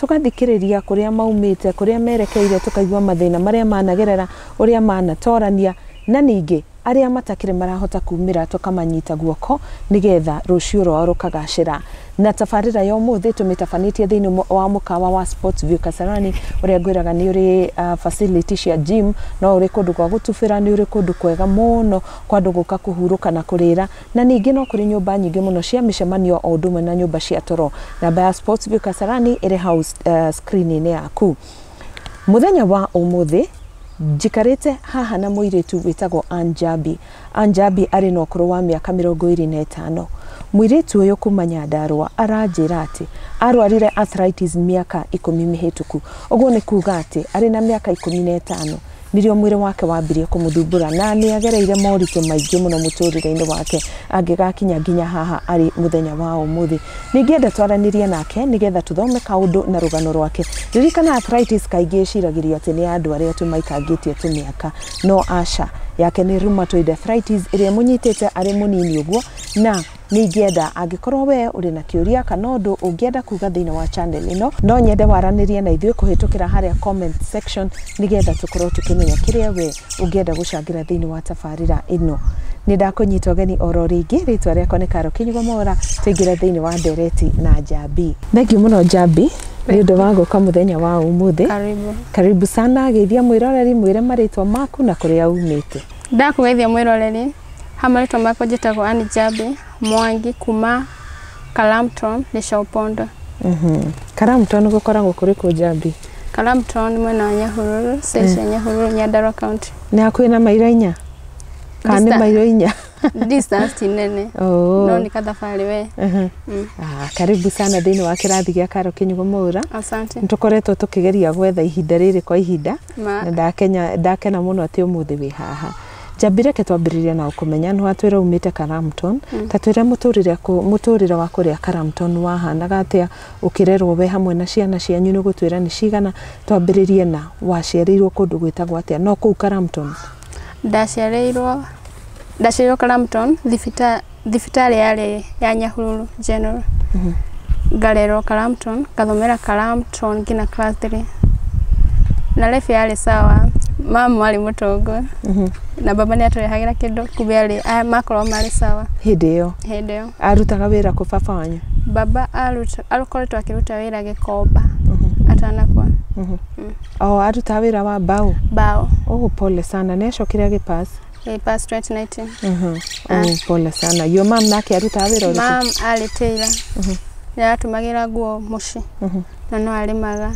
Tũgathikĩrĩria kũrĩa maumĩte, kũrĩa merekeire, tũkaigua mathĩna marĩa managerera, ũrĩa manatorania, na ningĩ arĩa matakĩrĩ marahota kumĩra tũkamanyita guoko nĩgetha rũciũ rwao rũkagacĩra. Na tabarĩra ya ũmũthĩ tũmĩtabanĩtie thĩinĩ wa mũkawa wa Sports View Kasarani ũrĩa ngwĩraga nĩ ũrĩ facility cia gym, no ũrĩ kũndũ gwa gũtubĩra, nĩ ũrĩ kũndũ kwega mũno kwa andũ gũka kũhurũka na kũrĩra Na ningĩ no kũrĩ nyũmba nyingĩ mũno cia mĩcemanio o ũndũ ũmwe na nyũmba cia toro. Namba ya Sports View Kasarani ĩrĩ hau screen-inĩ yaku. Mũthenya wa ũmũthĩ njikarĩte haha na mũirĩtu wĩtagwo Ann Jambi. Ann Jambi arĩ na ũkũrũ wa mĩaka mĩrongo ĩrĩ na ĩtano. Mũirĩtu ũyũ kuma Nyandarũa aranjĩra atĩ arwarire arthritis mĩaka ikũmi mĩhĩtũku. Ũguo nĩ kuga atĩ arĩ na mĩaka ikũmi na ĩtano nĩrĩo mwĩrĩ wake wambirie kũmũthumbũra na nĩ agereire moritũ maingĩ mũno mũtũrĩre-inĩ wake angĩgakinya nginya haha arĩ mũthenya wa ũmũthĩ. Ningĩenda twaranĩrie nake nĩgetha tũthome kaũndũ na rũgano rwake. Ririkana arthritis kaingĩ ĩciragĩrio atĩ nĩ ya andũ arĩa tu maikangĩtie tũmĩaka. No aca, yake nĩ rheumatoid arthritis ĩrĩa ĩmũnyitĩte arĩ mũnini ũguo na Nĩ ingĩenda angĩkorwo we ũrĩ na kĩũria kana ũndũ ũngĩenda kuga thĩinĩ wa channel ĩno, no nyende waranĩrie na ithuĩ kũhĩtũkĩra harĩa comment section nĩgetha tũkorwo tũkĩmenya kĩrĩa we ũngĩenda gũcangĩra thĩinĩ wa tabarĩra ĩno. Nĩ ndakũnyita ũgeni oro rĩngĩ, rĩtwa rĩakwa nĩ Karo Kinyugo Mwaura, tũingĩre thĩinĩ wa ndereti na Njambi. Thengiũ mũno Njambi nĩ ũndũ wa gũka mũthenya wa ũmũthĩ. Karibu. Karibu sana, geithia mwĩroreri, mwĩre marĩtwa maku na kũrĩa umĩte. Ndakũgeithia mwĩroreri. Ha marĩtwa makwa njĩtagwo Ann Njambi Mwangi kuma Kalamton Lĩcopondo. Karamton gũkoragwo kũrĩ kũ Njambi? Kalamton mwena wa Nyahururu, side cia Nyahururu, Nyandarua County. Nĩ hakuhĩ na mairo inya? Kana nĩ Dista- mairo inya? Distance ti nene. Oo. No nĩ kathabarĩ we. Mhm. Ah, Karibu sana thĩinĩ wa kĩrathi gĩa Karo Kĩnyugo Mwaura. Asante. Nĩ tũkoretwo tũkĩgeria gwetha ihinda rĩrĩ kwa ihinda Ma. na ndakenya- ndakena mũno atĩ ũmũthĩ wĩ haha. Njambi reke twambĩrĩrie na ũkũmenya nĩ watwĩra umĩte Karamton mm. ta twĩre mũtũrĩre mũtũrĩre wa kũrĩa Karamton wahanaga atĩa ũkĩrerwo we hamwe na ciana cianyu nĩ gũtwĩra nĩ cigana twambĩrĩrie na waciarĩirwo kũndũ gwĩtagwo atĩa no kũu Karamton ndaciarĩirwo ndaciarĩirwo Karamton thibita thibitarĩ yarĩ ya Nyahururu General. Ngarerwo Karamton, ngathomera Karamton nginya class 3. Na life yarĩ sawa. Mama arĩ mũtongo. Na baba nĩ atũrehagĩra kĩndũ kumbe arĩ a- makorwo marĩ sawa hĩndĩ ĩyo hĩndĩ ĩyo. arutaga wĩra kũ baba wanyu Baba aruta- akoretwo akĩruta wĩra gĩkomba atanakua o arutaga wĩra wa mbaũ mbaũ. oh pole sana nĩ acokire agĩpass eh, past 2019 Mhm. Ah. Oh, pole sana yo mam nake arutaga wĩra ũrĩkũ mam arĩ tailor yaratũmagĩra nguo mũciĩ na no arĩmaga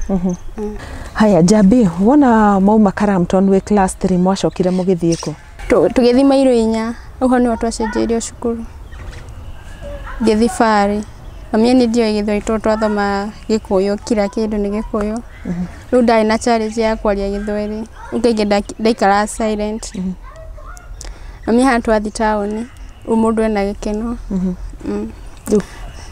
haya njambi wona mauma Crampton wĩ class 3 mwacokire mũgĩthiĩ kũ Tũ- tũgĩthiĩ mairũ inya ũguo nĩho twacenjeirio cukuru ngĩthiĩ barĩ mamia nĩ ndiũĩ gĩthweri tondũ twathoma gĩkũyũ kira kĩndũ nĩ gĩkũyũ Rĩu ndarĩ na challenge ya kwaria gĩthweri, rĩu kaingĩ nda- ndaikaraga silent. Mami haha twathiĩ taũni, rĩu mũndũ ena gĩkeno. Mm. Rĩu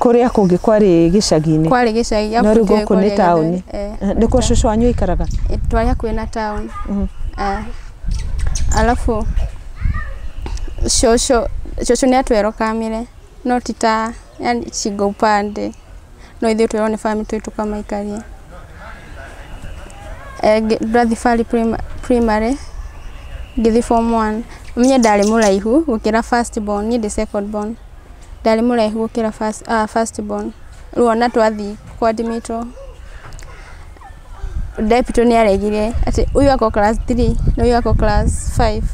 kũrĩa kũngĩ kwarĩ gĩcagi-inĩ Kwarĩ gĩcagi gĩa no rĩu Buteo gũkũ nĩ kwaria taũni Gĩthweri. Eh, Eh, nĩkuo cũcũ wanyu aikaraga eh, twarĩ hakuhĩ na taũni. Eh, Alafu cũcũ cũcũ nĩ atwerokamire no ti ta yani shingo upande no ithuĩ twĩrwo nĩ farm tũthiĩ tũkamaikarie. Ndathiĩ Fari primary ngĩthiĩ form one niĩ ndarĩ mũraihu gũkĩra first born niĩ ndĩ second born ndarĩ mũraihu gũkĩra first born rĩu ona twathiĩ kũ admit wo. Ndepito nĩ aregire atĩ ũyũ akorwo class three na ũyũ akorwo class five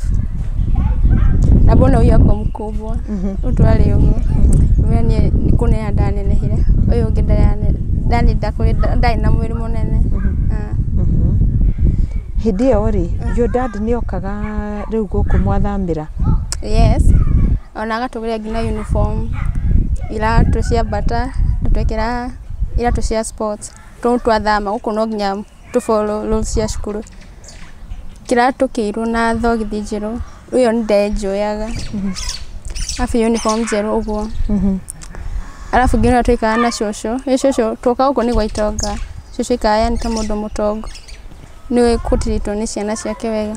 na mbona ũyũ akorwo mũkubwa, rĩu twarĩ ũguo ngĩmwĩra niĩ nĩ kũneneha ndanenehire, ũyũ ũngĩ ndarĩ na mwĩrĩ mũnene. Hĩndĩ ĩyo rĩ, your dad nĩ okaga rĩu gũkũ mwathamĩra? Yes, ona agatũgũrĩra nginya uniform, iratũ cia bata, agĩtwĩkĩra iratũ cia sports. tondũ twathama gũkũ no nginya tũ follow rules cia cukuru. Kĩratũkĩirwo na thogithi njerũ, ĩyo nĩ ndenjoyaga, arabu uniform njerũ ũguo. Arabu nginya ũrĩa twaikaraga na cũcũ, ĩ cũcũ, twoka gũkũ nĩ gwa itonga, cũcũ aikaraga yani ta mũndũ mũtongu, nĩoĩ kũ treat wo nĩ ciana ciake wega.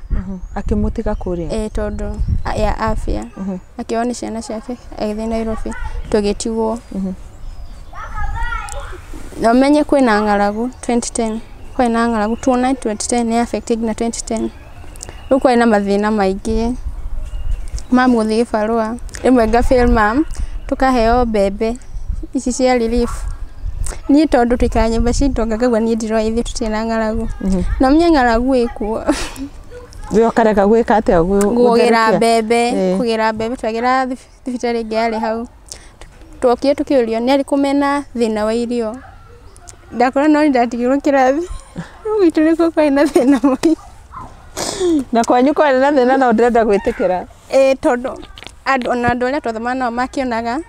Akĩmũtiga kũrĩa? Ĩĩ tondũ ya afya. Akĩoywo nĩ ciana ciake agĩthiĩ Nairobi tũgĩtigwo. Na ũmenye kwĩna ng'aragu twenty ten, kwarĩ na ng'aragu two nine twenty ten nĩ ya affect ĩte nginya twenty ten. Rĩu kwarĩ na mathĩna maingĩ. Mom gũthiĩ gĩbarũa, rĩmwe nga fail mom, tũkaheo mbembe. ici cia relief niĩ tondũ tũikaraga nyũmba citũ anga ngaigua niĩ ndiroya ithuĩ tũtirĩ na ng'aragu na ũmenye ng'aragu ĩkuo we ũkareka gwĩka atĩa gũ- kũgĩra gũtherũkia? mbembe Eh. kũgĩra mbembe twagĩra thib- thibitarĩ ĩngĩ yarĩ hau twokire tũkĩũrio nĩ arĩkũ mena thĩna wa irio ndakora no ndatigirwo kĩrathi gwitũ nĩkuo kwarĩ na thĩna mũingĩ na kwanyu kwarĩ na thĩna na ndĩrenda gwĩtĩkĩra ĩĩ tondũ andũ ona andũ arĩa twathoma nao makĩonaga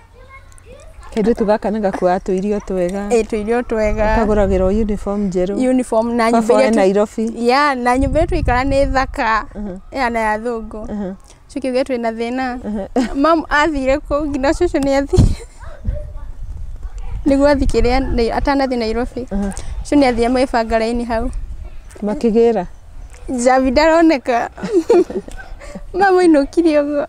Kairĩtu gaka nĩ gakuaga tũirio twega. Ĩĩ tũirio twega. Kagũragĩrwo uniform njerũ. Uniform na nyũmba Baba e iria tu- Nairobi. ya na nyũmba ĩyo tũikara nĩ thaka ya na ya thũngũ cikiuge twĩ na thĩna mam athire kũu nginya cũcũ nĩ athire nĩguo athi kĩrĩa nĩ- atanathi nairobi cũcũ nĩ athire magĩbanga raini hau Makĩgĩra. njabi ndaroneka mamu ainũkire ũguo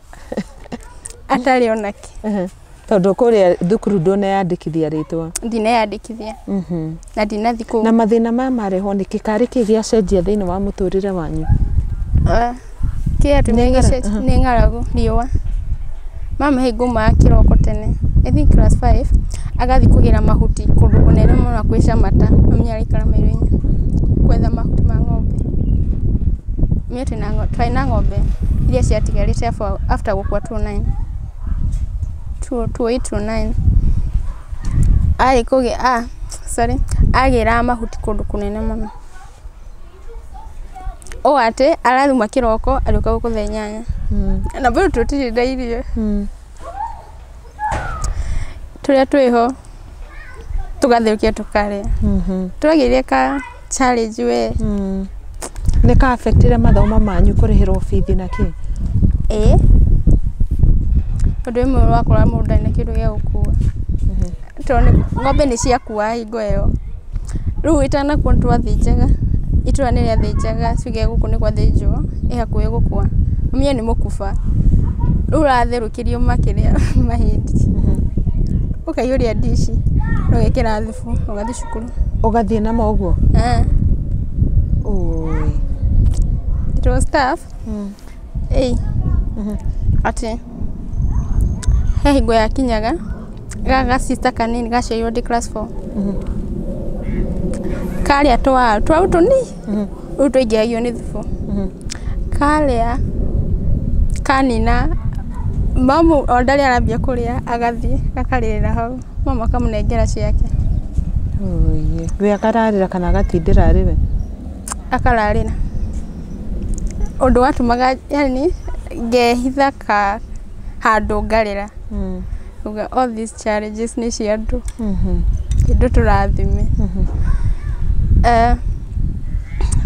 atarĩ ona kĩ Ehe. tondũ kũrĩa thukuru ndũneyandĩkithia rĩtwa ndineyandĩkithia Mhm. na ndinathi kũu na mathĩna maya marehwo nĩ kĩ karĩ kĩ gĩacenjia thĩinĩ wa mũtũrĩre wanyu Ah, kĩrĩa Nĩ tũmenya ng'ara- gĩce- aha. nĩ ng'aragu riũa mama hĩ ngumaga kĩroko tene I think class 5 agathiĩ kũgĩra mahuti kũndũ kũnene mũno na kwĩ camata mami araikara mairoinĩ kwetha mahuti ma ng'ombe atumia twĩna ng'ombe, twarĩ na ng'ombe iria ciatigarĩte after gũkua two nine, two eight two nine, arĩ kũgĩa a sorry agĩraga mahuti kũndũ kũnene mũno, ũũ atĩ arathuma kĩroko agĩũka gũkũ thaa inyanya na bado tũtirĩ na irio. tũrĩa twĩho tũgatherũkia tũkarĩa tũragĩire ka challenge we nĩ ka affect ire mathomo manyu kũrĩhĩrwo bithi na kĩ ĩĩ ũndũ ũmwe wakora mũndũ ndarĩ na kĩndũ gĩa gũkua tondũ ng'ombe nĩ ciakua hingo ĩyo Rĩu itanakorwo nĩ twathĩnjaga, itũũra nĩ rĩathĩnjaga tuge gũkũ nĩ gwathĩnjwo ĩ hakuhĩ gũkua, mũmenye nĩ mũkuba, rĩu ũratherũkĩrio makĩrĩa mahĩndĩ, ũkaihũria ndici ũgekĩra thubu ũgathiĩ cukuru. Ũgathiĩ namo ũguo? Ĩĩ. Ũũi. It was tough. ĩĩ atĩ he hingo yakinyaga gaka ga sister kanini gaciarirwo ndĩ class four karĩa tũwaru tũwaru tũnini rĩu twaingĩhagio nĩ thubu karĩa kanina mamu o ũrĩa arambia kũrĩa agathiĩ akarĩrĩra hau mamu akamũnengera ciake. Wee kararĩra kana gatindĩra arĩ we? akararĩra. Ũndũ watũmaga yaani ngehitha handũ ngarĩra ngauga all these challenges nĩ cia andũ, ti andũ tũrathime.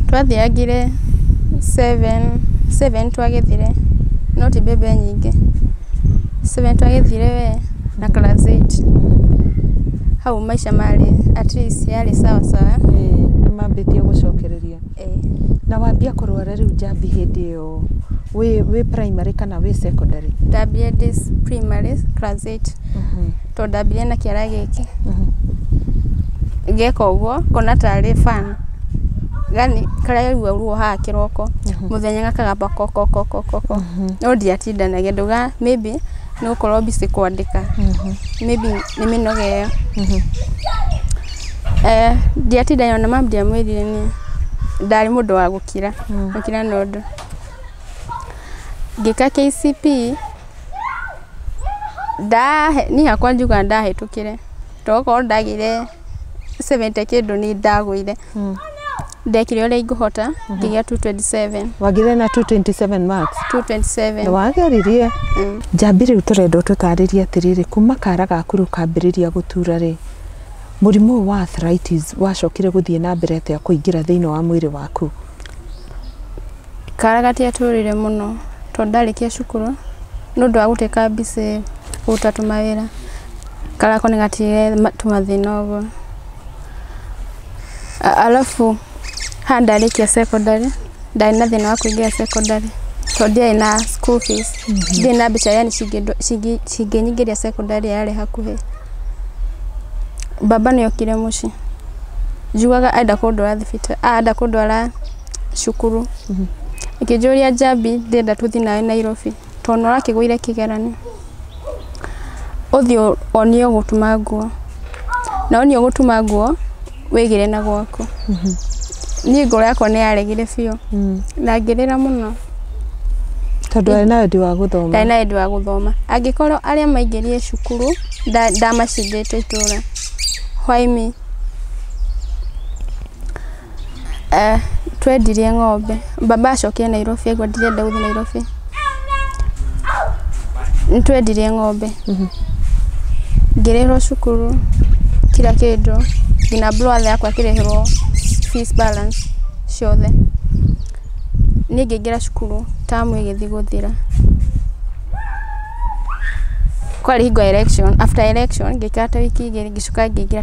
Twathiangire seven, seven twagethire no ti mbembe nyingĩ, seven twagethire wee... na class eight. Hau maica marĩ at least yarĩ sawa sawa. Ĩĩ nĩ mambĩtie gũcokereria. Na wambia kũrwara rĩu njambi hĩndĩ ĩyo wĩ wĩ primary kana wĩ secondary? Ndambire ndĩ primary class eight tondũ ndambire na kĩara gĩkĩ. Ngeka ũguo ngona tarĩ fun. Yaani karaigua ruo haha kĩroko, mũthenya gakagamba ko ko ko ko ko ko. No ndiatindanagia, ndaugaga maybe nĩ gũkorwo busy kwandĩka maybe nĩ mĩnoga ĩyo Eh, ndiatinda yona mamu ndiamwĩrire nĩ ndarĩ mũndũ wa gũkira gũkira na ũndũ ngĩka KCP ndahe niĩ hakwa njuga ndahĩtũkire tokorwo ndagĩire 70 kĩndũ nĩ ndagũire ndekire ũrĩa ingũhota ngĩgĩa 227 wagire na 227 marks 227 na wageririe Mm. njambi rĩu tũrenda ũtũtarĩrie atĩrĩrĩ kuma kara gaku rĩu kambĩrĩria gũtura rĩ mũrimũ ũyũ wa arthritis wacokire gũthiĩ na mbere atĩa kũingĩra thĩinĩ wa mwĩrĩ waku kara gatiatũrire mũno tondũ ndarĩkia cukuru nĩ ũndũ wa gũteka mbici kũruta tũmawĩra karako nĩ gatire ma- tũmathĩna ũguo A- Alafu ha ndarĩkia secondary ndarĩ na thĩna wa kũingĩra secondary tondũ ndiarĩ na school fees ndiarĩ na mbeca yani cingĩndo- cingi- cingĩnyingĩria secondary yarĩ hakuhĩ baba nĩ okire mũciĩ njugaga enda kũndwara thibitarĩ ah, enda kũndwara cukuru akĩnjũria njambi ndĩrenda tũthiĩ nawe nairobi tondũ nĩ ũrakĩgũire kĩgeranio. Ũthiĩ wonie ũgũtuma nguo, na wonia ũgũtuma nguo wĩgĩre na gwaku. Niĩ ngoro yakwa nĩ yaregire biũ na ngĩrĩra mũno. Tondũ arĩ na wendi wa gũthoma. Ndarĩ na wendi wa gũthoma. Angĩkorwo arĩa maingĩrire cukuru ndamacindĩte itũra, why me? Twendirie ng'ombe, baba acokire Nairobi aigua ndirenda gũthiĩ Nairobi. Nĩ twendirie ng'ombe, ngĩrĩhĩrwo cukuru, kira kĩndũ, nginya brother yakwa akĩrĩhĩrwo fees balance ciothe. Niĩ ngĩingĩra cukuru term ĩgĩthiĩ gũthira. Kwarĩ hingo ya election, after election ngĩikara ta wiki igĩrĩ ngĩcoka ngĩingĩra.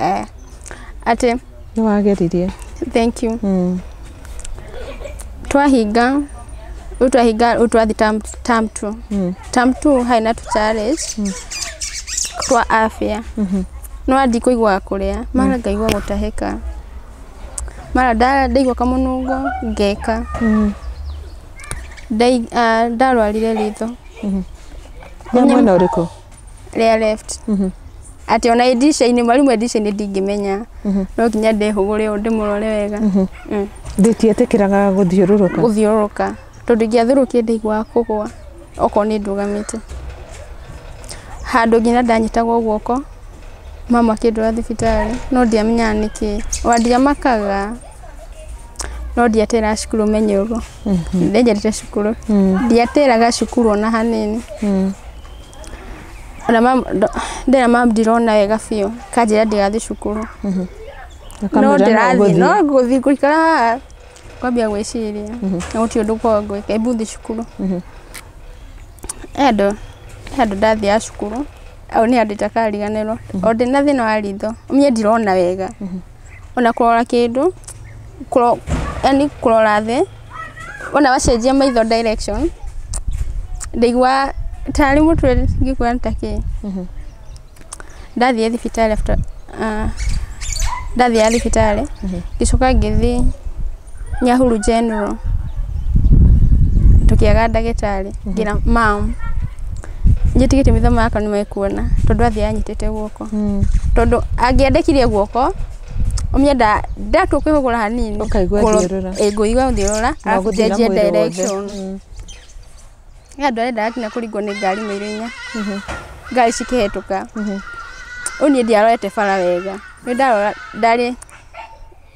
eh atĩ nĩ wageririe thank you mm. twahinga rĩu twahinga rĩu twathi tam tam two Mm. tam two harĩ na tuchallenge twa afya Mhm. no andi kũigua kũrĩa mara ngaigua gũtahĩka mara nda- ndaigua kamũnungo ngeka Mm. Ndai- ah, ndarwarire ritho nĩ mwena ũrĩkũ rĩa left atĩ ona ĩ ndirica-inĩ mwarimũ e ndirica-inĩ ndingĩmenya no nginya ndehũgũre ũũ ndĩmũrore wega Mm. ndĩtietĩkĩraga gũthiũrũrũka gũthiũrũrũka tondũ ingĩathũrũkia ndaiguaga kũgwa okorwo nĩ ndũgamĩte handũ nginya ndanyitagwo guoko mama akĩndwara thibitarĩ no ndiamenyaga nĩkĩ ona ndiamakaga no ndiatĩraga cukuru menye ũguo ndenjete cukuru ndiatĩraga cukuru ona hanini Ona mam- ndo- ndĩna mam ndirona wega biũ kanjĩra ndigathiĩ cukuru no Ũkamwĩra ndĩrathiĩ ũgũthiĩ. no ngũthiĩ ngũikara haha kwambia gwĩciria na gũtirĩ ũndũ kwa ngwĩka imbu thiĩ cukuru andũ andũ ndathiaga cukuru au nĩ andũ itakariganĩrwo o ndĩna thĩna wa ritho niĩ ndirona wega ona kũrora kĩndũ, yaani kũrora thĩ, wona wacenjia maitho direction, ndaiguaga tarĩ mũtwe ingĩkũra nĩ ta kĩĩ, ndathiĩ thibitarĩ after ndathiaga thibitarĩ, ngĩcoka ngĩthiĩ Nyahururu general, tũkĩaga ndagĩtarĩ, ngĩra ma'am, njĩtĩkĩtie maitho makwa nĩ mekuona, tondũ athiaga anyitĩte guoko. Tondũ angĩendekithia guoko, ũmĩenda, ndatua kũhũra hanini, Ũkaigua thiũrũra. ĩĩ ngũigua thiũrũra, Na arabu gũthiĩ na njenjie mwĩrĩ wothe. direction. He andũ arendaga nginya kũringwo nĩ ngari na ihenya, ngari cikĩhĩtũka. Rĩu niĩ ndiarorete bara wega, nĩ ndarora ndarĩ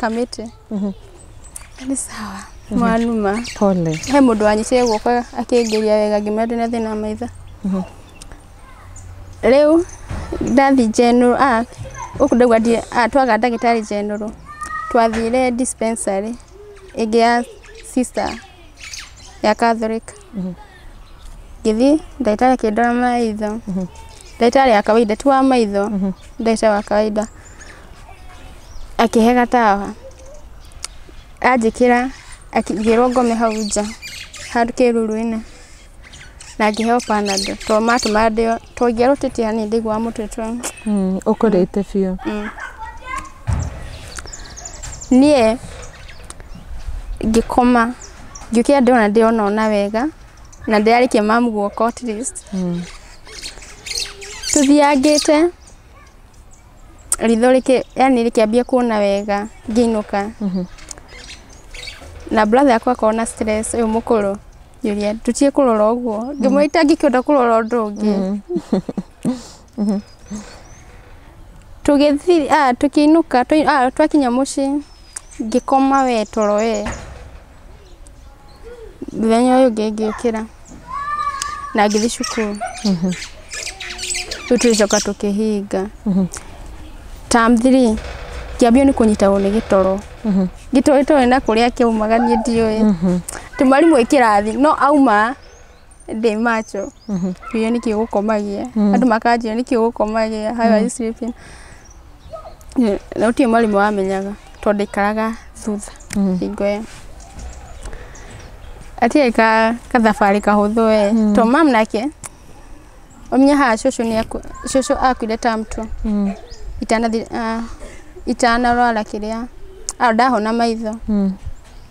kamĩtĩ nĩ sawa mwanuma pole he mũndũ wanyitire guoko akĩngĩria wega ngĩmwĩra ndĩna thĩna wa maitho rĩu ndathi general a gũkũ ndaigua ndi a twaga ndagĩtarĩ general twathire dispensary ĩngĩ ya sister ya catholic ngĩthiĩ ndagĩtarĩ akĩndora maitho ndagĩtarĩ wa kawaida ti wa maitho ndagĩtarĩ wa kawaida akĩhe gatawa anjĩkĩra ngĩrwo ngome hau nja handũ kĩruru-inĩ na ngĩheo panado tondũ matũma ndĩo tondũ ingĩarwo tetea nĩ ndaiguaga mũtwe twa Mm, ũkũrĩte biũ niĩ ngĩkoma Ngĩũkĩra ndona ndĩrona ona wega, na ndĩrarĩkia mamu guoka at least. Tũthiangĩte, ritho rĩkĩ, yani rĩkĩambia kuona wega, ngĩinũka. Na brother yakwa akorwo na stress, ũyũ mũkũrũ, ngĩũria tũtige kũrora ũguo. Ngĩmwĩra itangĩkĩhota kũrora ũndũ ũngĩ. tũgĩthiĩ ah, tũkĩinũka tũ- ah, twakinya mũciĩ ngĩkoma we toro we mũthenya ũyũ ũngĩ ngĩũkĩra na ngĩthiĩ cukuru rĩu tũgĩcoka tũkĩhinga tam three ngĩambio nĩ kũnyitagwo nĩ gĩtoro gĩtoro gĩtoro na kũrĩa kĩaumaga niĩ ndiũĩ tĩ mwarimũ wĩ kĩrathi no auma ndĩ macho ngiũria nĩkĩ gũkomagia andũ makanjũria nĩkĩ gũkomagia how are you sleeping na gũtirĩ mwarimũ wamenyaga tondũ ndaikaraga thutha hingo ĩyo gatiarĩ ka- gathabarĩ kahũthũ we to mam nake ũmenye haha cũcũ nĩ aku- cũcũ akuire term two itanathi ah, itanarwara kĩrĩa ah, ndahona maitho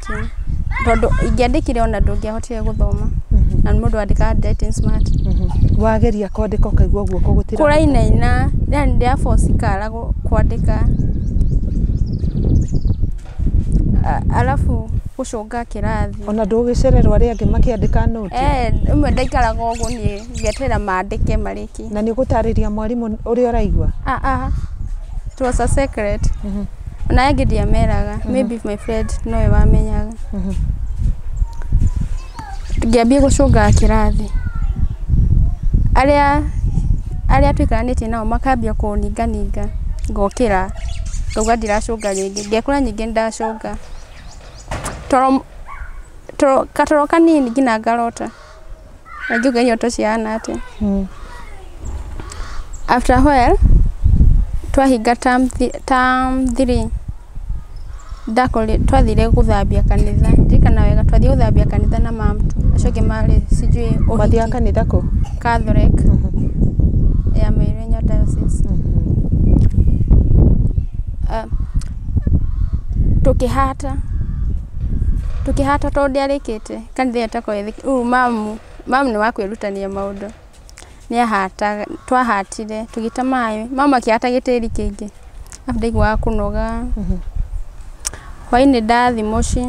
ingĩandĩkire? Tondũ ingĩandĩkire ona ndũngĩahotire gũthoma. Na mũndũ andĩkaga handwriting smart. Wageria kwandĩka ũkaigua guoko gũtira. Kũrainaina, yani ndĩa force ikara gũ- kwandĩka. A- Alafu gũcũnga kĩrathi. Ona ndũgĩcererwo arĩa angĩ makĩandĩka nũti. Eh, ĩmwe ndaikaraga ũguo niĩ ngeterera mandĩke marĩki. Na nĩ ũgũtarĩria mwarimũ ũrĩa ũraigua. Ah ah. It was a secret. Ona angĩ ndiameraga, maybe my friend nowe wamenyaga. Ngĩambia gũcũngaga kĩrathi, arĩa arĩa tũikaranĩtie nao makambia kũninga ninga ngokĩra, ngauga ndiracũnga rĩngĩ, ngekora ningĩ nĩndacũnga. Toro toro katoro kanini nginya ngarota. Najuge nyoto cihana atĩa. Mm. After a while, twahinga term thi- term three, ndakore twathire gũthambia kanitha ndirikana wega twathire gũthambia kanitha na mam acio angĩ marĩ sijui Mwathiaga ũhiki kanitha kũ? Catholic ya Mairenyo Diocese Ah, tũkĩhata tũkĩhata tondũ ndiarĩkĩte Kanitha ĩyo tokorwo ĩthĩ, rĩu mamu, mamu nĩ wa kwĩrutania maũndũ, nĩ ahataga, twahatire, tũgĩta maĩ, mamu akĩhata gĩtĩri kĩingĩ, arabu ndaiguaga kũnoga, hwainĩ ndathi mũciĩ,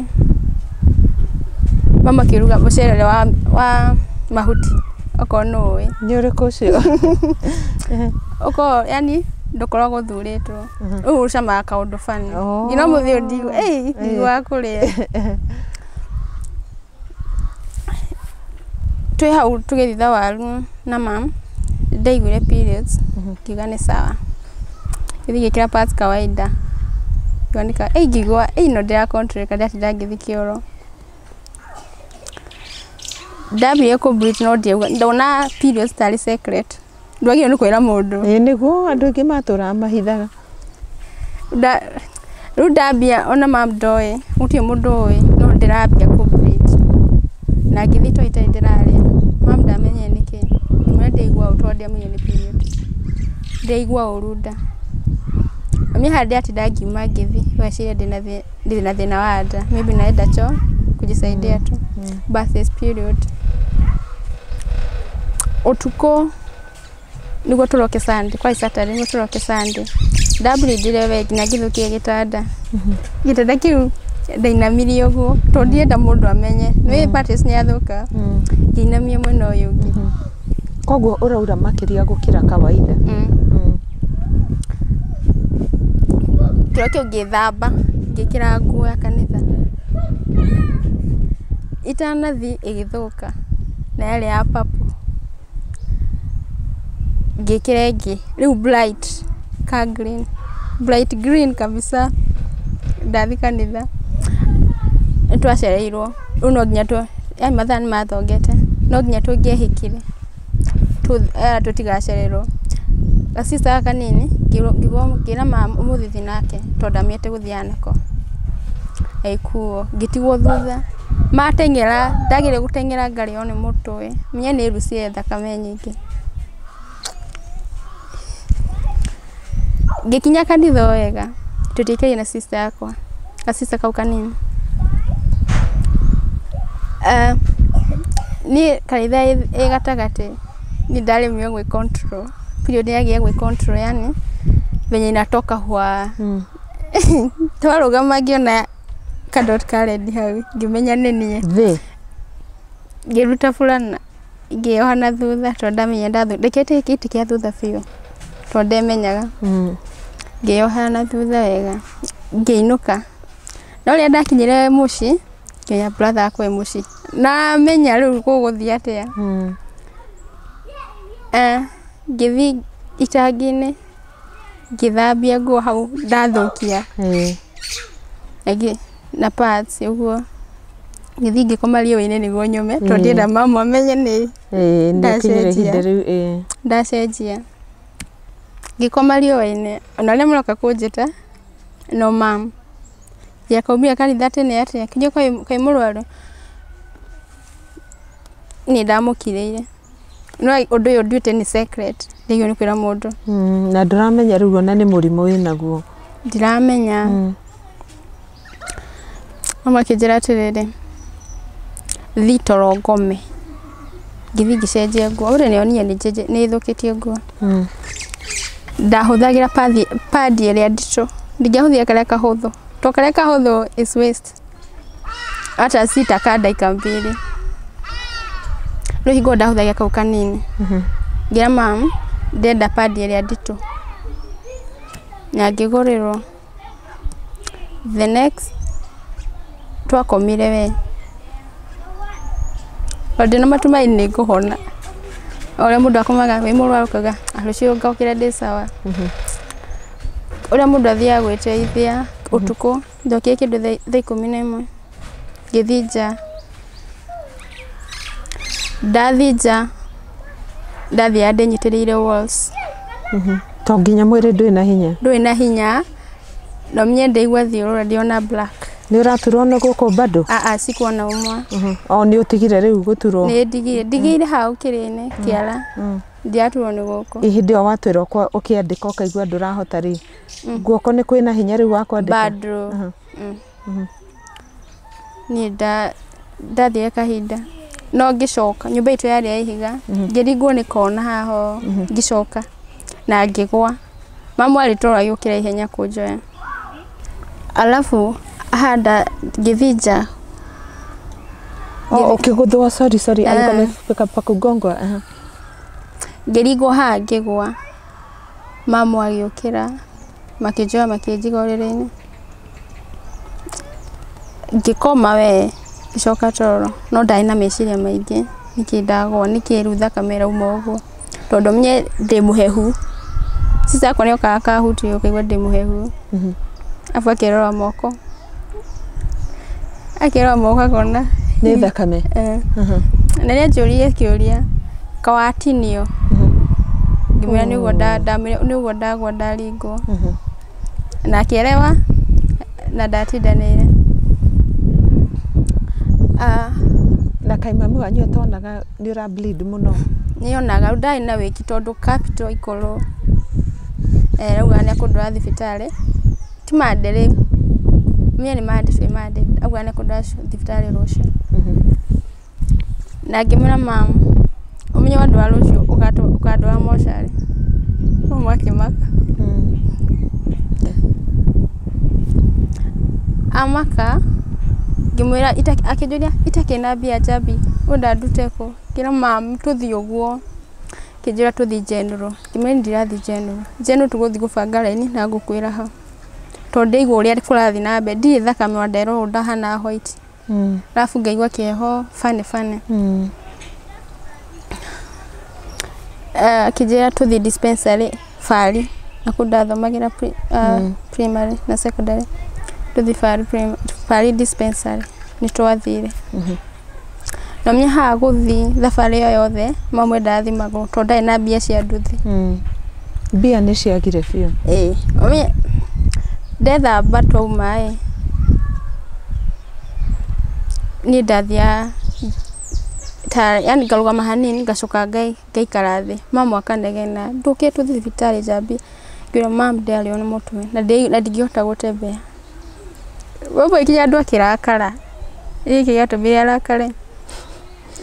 mamu akĩruga mũcere ũrĩa wa wa mahuti, okorwo nũ ũĩ. Nĩ ũrĩkũ ũcio? Ũkoragwo yani ndũkoragwo ũthurĩtwo, rĩu ũcamaga kaũndũ funny. Nginya ũmũthĩ ũyũ ndiiguaga, ĩi, ndiiguaga kũrĩa. Twĩ hau tũgĩthitha waru na mum, nĩ ndaiguire periods ngiuga nĩ sawa. Ngĩthiĩ ngĩkĩra pads kawaida, ngĩoneka ĩĩ ngĩigua ĩĩ ĩno ndĩra control ĩka ndĩratinda ngĩthiĩ kĩoro. Ndambire kũ bleed no ndiauga, ndona periods tarĩ secret. ndwagĩrĩirwo nĩ kwĩra mũndũ ĩĩ nĩguo andũ aingĩ matũraga mahithaga Nda- rĩu ndambia ona mam ndoĩ gũtirĩ mũndũ ũĩ no ndĩrambia kũbrit na ngĩthiĩ to itarĩ ndĩrarĩa mam ndamenyire nĩkĩ mwe ndaigua ũru tondũ ndiamenyire nĩ period ndaigua ũru nda mami handĩ atinda ngiuma ngĩthiĩ weciria ndĩna thĩ ndirĩ na thĩna wa nda maybe naenda choo kujisaidia tu birth is period ũtukũ nĩguo tũroke Sunday kwa Saturday nĩguo tũroke Sunday ndambulindire we nginya ngĩthũkia gĩtanda gĩtanda kĩu ndainamirie ũguo tondũ ndirenda mũndũ amenye nĩ mattress nĩ yathũka ngĩinamia mwena ũyũ ũngĩ koguo ũraura makĩria gũkĩra kawaida Mm. njokio ngĩthamba ngĩkĩra nguo ya kanitha, itanathiĩ ĩgĩthũka na yarĩ ya purple ngĩkĩra ĩngĩ rĩu bright ka green, bright green kabisa ndathiĩ kanitha nĩtwacereirwo rĩu no nginya, mathaa nĩmathongete no nginya tũngĩehĩkire. tũtigacererwo. Ga sister gaka kanini ngĩra mama ũmũthĩ thiĩ nake tondũ ndamenyete gũthiaga nako. Gagĩkuo, ngĩtigwo thutha. Mateng'era, ndageria gũteng'era ngarĩo nĩ mũtwe. Menye nĩ ruciye thakame nyingĩ. Ngĩkinya kanitha o wega, tũtiaikaire na sister yakwa, ga sister kau kanini. Niĩ kanitha ĩ gatagatĩ, niĩ ndaremire gwĩ control, period yagĩa gwĩ control yaani venye inatoka hwaa. Twarũgama ngĩona ka dot ka red hau, ngĩmenya nĩ niĩ. Ngĩruta burana. Ngĩyoha na thutha tondũ ndamenya ndathondekete gĩkĩti kĩa thutha biũ tondũ ndemenyaga. Ngĩyoha na thutha wega ngĩinũka. No rĩrĩa ndakinyire mũciĩ ngĩmenya brother wakwa e mũciĩ. Ndamenya rĩu gũgũthiĩ atĩa. Ngĩthiĩ itangi-inĩ ngĩthambia nguo hau ndathũkia. na pads ũguo ngĩthiĩ ngĩkoma riũa-inĩ nĩguo nyũme tondũ Ĩĩ. ndĩrenda mama amenye nĩ Ĩĩ, nĩ akinyire Ndacenjia. ihinda rĩu ĩĩ. ndacenjia ngĩkoma riũa-inĩ ona arĩa maroka kũnjĩta no mam ya kaumire kanitha tene atĩa nginya kaĩ kaĩ mũrwaru nĩ ndamũkirĩire no ũndũ ũyũ nduĩte nĩ secret ndigĩrĩirwo nĩ kwĩra mũndũ Mm, na ndũramenya rĩu ona nĩ mũrimũ wĩnaguo ndiramenya No makĩnjĩra atĩrĩrĩ, thiĩ toro ngome. Ngĩthiĩ ngĩcenjia nguo. Ũrĩa nĩyo niĩ nĩnjenje- nĩthũkĩtie nguo. Ndahũthagĩra padi- padi ĩrĩa nditũ. Ndingĩahũthire karĩa kahũthũ. To karĩa kahũthũ is waste. Hata si ta ka ndagĩka mbili. Rĩu hingo ĩyo ndahũthagĩra kau kanini. Ngĩra mum, ndĩrenda padi ĩrĩa nditũ. Na ngĩgũrĩrwo. The next twakomire we, tondũ ndĩna matumaini nĩ ngũhona. O ũrĩa mũndũ akomaga wĩ mũrwaru ũkauga "Ah, rũciũ ngokĩra ndĩ sawa. Ũrĩa mũndũ athiaga gwĩteithia ũtukũ, njokire kĩndũ thaa thaa ikũmi na ĩmwe. ngĩthinja, ndathinja ndathiaga ndĩnyitĩrĩire walls To nginya mwĩrĩ ndwĩ na hinya. ndũrĩ na hinya no niĩ ndaigua thiũrũra ndiona black Nĩ ũraturwo nĩ gũkũ bado? aa sikuona ũmwe O nĩ ũtigire rĩu gũturwo. nĩ ndigire ndigire hau kĩrĩnĩ kĩara ndiaturwo nĩ gũkũ Hĩndĩ ĩyo watwĩra ũkwa- ũkĩandĩka ũkaigua ndũrahota rĩ, guoko nĩ kwĩna hinya rĩu wa kwandĩka? bado niĩ nda- ndathire kahinda no ngĩcoka nyũmba itũ yarĩ ya ihiga ngĩringwo nĩ kona haha ũũ, ngĩcoka na ngĩgwa mamu arĩ toro agĩũkĩra ihenya kũnjoya alafu handa ngĩthiĩ nja Oh, ukigudhwa sorry sorry, alikuwa Ah. amefika pa kugongwa. Aha. ngĩringwo haha ngĩgwa mamu agĩũkĩra makĩnjoya makĩnjiga ũrĩrĩ-inĩ, ngĩkoma wee ngĩcoka toro, no ndarĩ na meciria maingĩ nĩkĩ ndagwa, nĩkĩ rĩu thakame ĩrauma ũguo, tondũ niĩ ndĩ mũhehu, sisi akwa nĩokaga akahutia ũkaigua ndĩ mũhehu, arabu akerora moko. Akerwo moka kuona. Nĩ thakame. Eh. Na nĩ anjũririe kĩũria, ka watinio? Ngĩmwĩra nĩguo nda- ndamwĩra nĩguo ndagwa ndaringwo. Na akĩerewa, na ndatindanĩire. Ah, Na kaĩ mami wanyu atonaga nĩ ũra bleed mũno? nĩ onaga, rĩu ndarĩ na wĩki tondũ capital ĩkorwo. Eh, rĩu nĩ ekũndwara thibitarĩ. Ti ma ndĩrĩ, niĩ nĩ ma ndĩbĩ ma ndĩbĩ, aguo nĩ kũrĩ ndĩrathiĩ thibitarĩ rũciũ. Na ngĩmwĩra mama, ũmenye wandwara rũciũ ũkandwara mocarĩ. Mama akĩmaka. Amaka, ngĩmwĩra akĩnjũria itakĩrĩ na mbia njambi ngwenda ndute kũ? Ngĩmwĩra mama tũthiĩ ũguo. Akĩnjĩra tũthiĩ general. Ngĩmwĩra ndirathiĩ general. General tũgũthiĩ gũbanga raini na ngũkwĩra hau. Tondũ ndaigua ũrĩa kũrathiĩ na mbere. Ndirĩ thakame wa ndera ũũ ndahana white. Mm. Arabu ngaigua kĩeho bane bane. Mm. Eh, Akĩnjĩra tũthiĩ dispensary. barĩ na kũu ndathomagĩra pri- ah, primary na secondary tũthi barĩ prim- barĩ dispensary nĩ twathire na mia haha gũthi thabarĩ ĩyo yothe mamwe ndathimagwo tondũ ndarĩ na mbia cia nduthi mbia nĩ ciagire biũ ĩĩ Ũmenye- ndethamba twauma ĩ niĩ ndathiaga ta yani ngarũgama hanini ngacoka ngai Ngaikara thĩ, mama akanegena, ndũkĩrĩ tũthiĩ thibitarĩ njambia. Ngĩrwo mama ndĩrarĩo nĩ mũtwe, na ndingĩhota gũtembea. Ũguo nginya andũ akĩrakara, nĩ kĩĩ gĩatũmire arakare?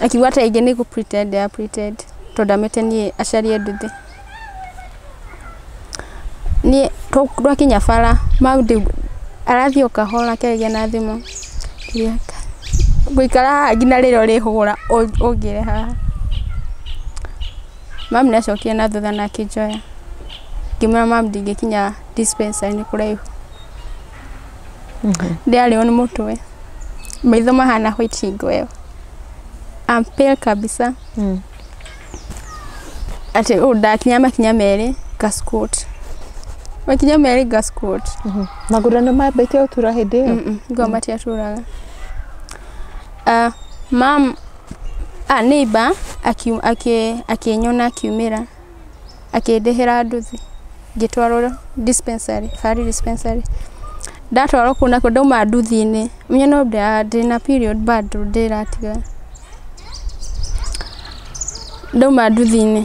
Akiuga tarĩngĩ nĩ gũ pretend a pretend tondũ ndamĩte niĩ aciari e nduthi. Niĩ twakinya bara arathiĩ o kahora akĩaragia na thimũ, ngũikara haha nginya rĩrĩa ũrĩhũra ũngĩre haha. Mum nĩ acokire na thutha na akĩnjoya, ngĩmwĩra mum ndingĩkinya dispensary nĩ kũraihu. Ndĩarĩo nĩ mũtwe, maitho mahana white hingo ĩyo. I'm pale kabisa. atĩ ũũ ndakinya makinya merĩ ngaskũt makinya merĩ ngaskũt magũrũ nĩ mambĩtie gũtura hĩndĩ ĩyo ngoma matiatũraga Ah, mam a neighbor aki- aki- akĩnyona akiumĩra akĩndĩhĩra nduthi ngĩtwarwo dispensary, Fari dispensary. Ndatwarwo kũu nakuo ndauma nduthi-inĩ, menye no ndĩna period bado ndĩratiga, ndauma nduthi-inĩ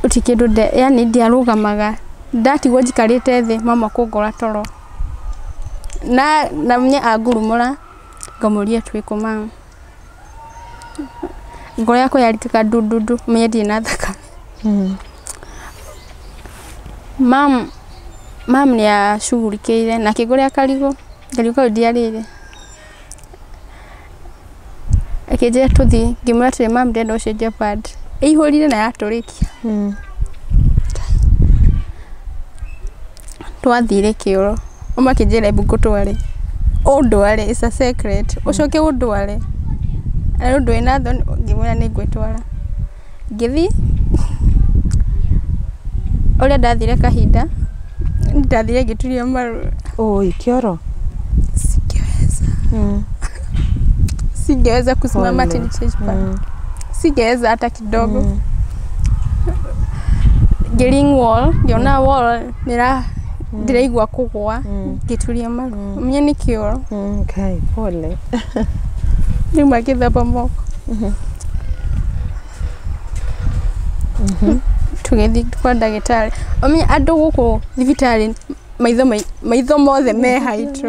gũtirĩ kĩndũ yaani ndiarũgamaga, ndatigwo njikarĩte thĩ mama kũngora toro, na menye angurumũra ngamũria twĩkũ mama. ngoro yakwa yaritĩka ndundu menye ndirĩ na thakame mam mam nĩ acugurikĩire na akĩngũrĩa karigũ karigũ kau ndiarĩire akĩnjĩra tũthiĩ ngĩmwĩra atĩrĩ mam ndĩrenda gũcenjia pad ĩihũrire na yatũrĩkia Twathire kĩoro, auma akĩnjĩra ebu ngũtware, ũndware, it's a secret, ũcoke ũndware, arĩ ũndũ wĩna thoni, ngĩmwĩra nĩ ngwĩtwara. Ngĩthi, ũrĩa ndathire kahinda, ndathire ngĩturia maru. Ũũĩ kĩoro? Singeweza kusimama ati nicheze pale. Singeweza hata kidogo. Ngĩring wall, ngĩona wall nĩra ndĩraigua kũgwa ngĩturia maru. Ũmenye nĩ kĩoro. Mm, kai pole Rĩu magĩthamba moko. Tũgĩthiĩ kwa ndagĩtarĩ. Ũmenye andũ gũkũ thibitarĩ maitho mai- maitho mothe me haitũ.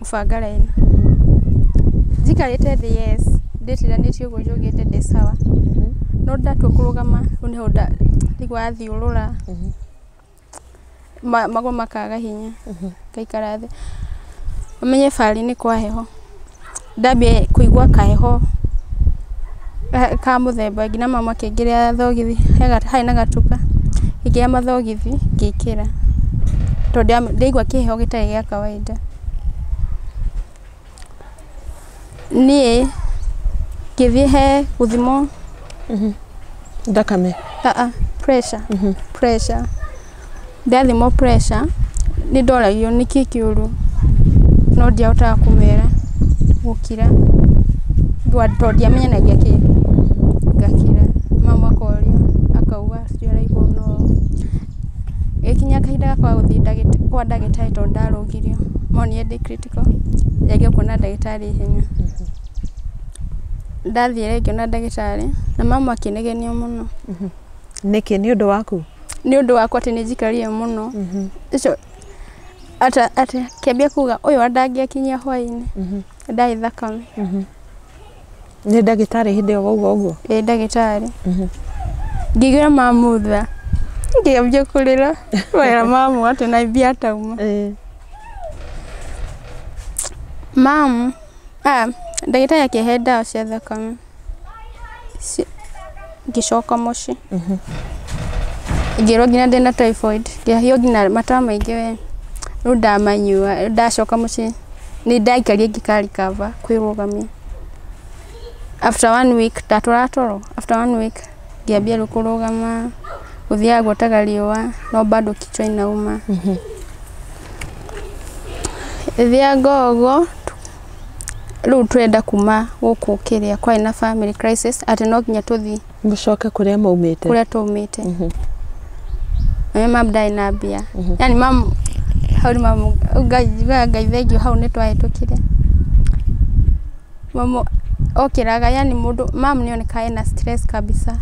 gũbanga raini. Njikarĩte thĩ yes, ndĩtiranĩtie ũguo njũgĩte ndĩ sawa. No ndatua kũrũgama rĩu nĩho ndaigua thiũrũra, magũrũ makaga hinya, ngaikara thĩ. Ũmenye barĩ nĩ kwa heho. Ndambia kũigua kaheho ka mũthemba nginya mama makĩngĩria thogithi, harĩ na gatuka, ngĩkĩra mathogithi ngĩkĩra, tondũ ndiaigua kĩheho gĩtarĩ gĩa kawainda. ũtũmĩte? Niĩ ngĩthiĩ he gũthimwo Thakame. aa pressure pressure ndathimwo pressure nĩ ndoragio nĩkĩ kĩũru no ndiahotaga kũmera gũkira Ndwa- tondũ ndiamenyanagia kĩndũ ngakira mama akorio akauga ũcio araigua ũru no Gagĩkinya kahinda gakwa ga gũthiĩ kwa ndagĩtarĩ tondũ ndarũgirio, monire ndĩ critical, ngĩgeria kuona ndagĩtarĩ ihenya. Ndathire ngĩona ndagĩtarĩ, na mama akĩnegenia mũno. Nĩkĩ? Nĩ ũndũ waku? Nĩ ũndũ wakwa atĩ nĩ njikarire mũno. Ũcio akĩambia kuuga ũyũ andangĩakinyia hwaĩ-inĩ, ndarĩ thakame. Nĩ ndagĩtarĩ hĩndĩ ĩyo wauga ũguo? Ĩĩ ndagĩtarĩ. Ngĩigua mamutha, ngĩambia kũrĩra. Wega mamu atĩ na mbia atauma. Mamu, ah, ndagĩtarĩ akĩhe ndawa cia thakame. Ci- ngĩcoka mũciĩ ngĩrwo nginya ndĩna typhoid ngĩhio nginya mata maingĩ we rĩu ndamanyua rĩu ndacoka mũciĩ nĩ ndaikarie ngĩkarikaba kwĩrũgamia after one week ndatwara toro after one week ngĩambia rĩu kũrũgama gũthiaga gũtaga riũa no bado kichwa inauma thiaga ũguo rĩu twenda kuma gũkũ kĩrĩa kwarĩ na family crisis atĩ no nginya tũthiĩ mũcoke kũrĩa maumĩte kũrĩa tũmĩte na mam ndarĩ na mbia yani mam hau nĩ mam ngai njigaga ngai thengiũ hau nĩ twahĩtũkire mam okĩraga yani mũndũ mam nĩ onekaga ena stress kabisa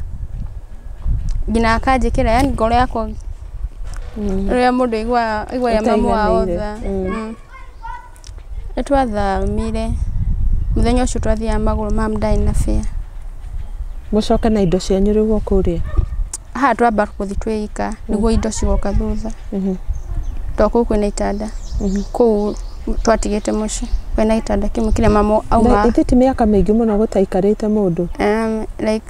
nginya akanjĩkĩra yani ngoro yakwa rĩrĩa mũndũ aiguaga aiguaga mamu wao tha Ũtaiganĩire. Mm. Nĩ twathamire, mũthenya ũcio twathiaga magũrũ ma'am ndarĩ na fare. Mũcoke na indo cianyu rĩu o kũu rĩ? Haha twamba gũthiĩ twĩ ika nĩguo indo cigoka thutha. Tondũ kũu kwĩna itanda, kũu twatigĩte mũciĩ kwĩna gĩtanda kĩmwe kĩrĩa mama aumaga. Na ithe ti mĩaka mĩingĩ mũno gũtaikarĩte mũndũ? Like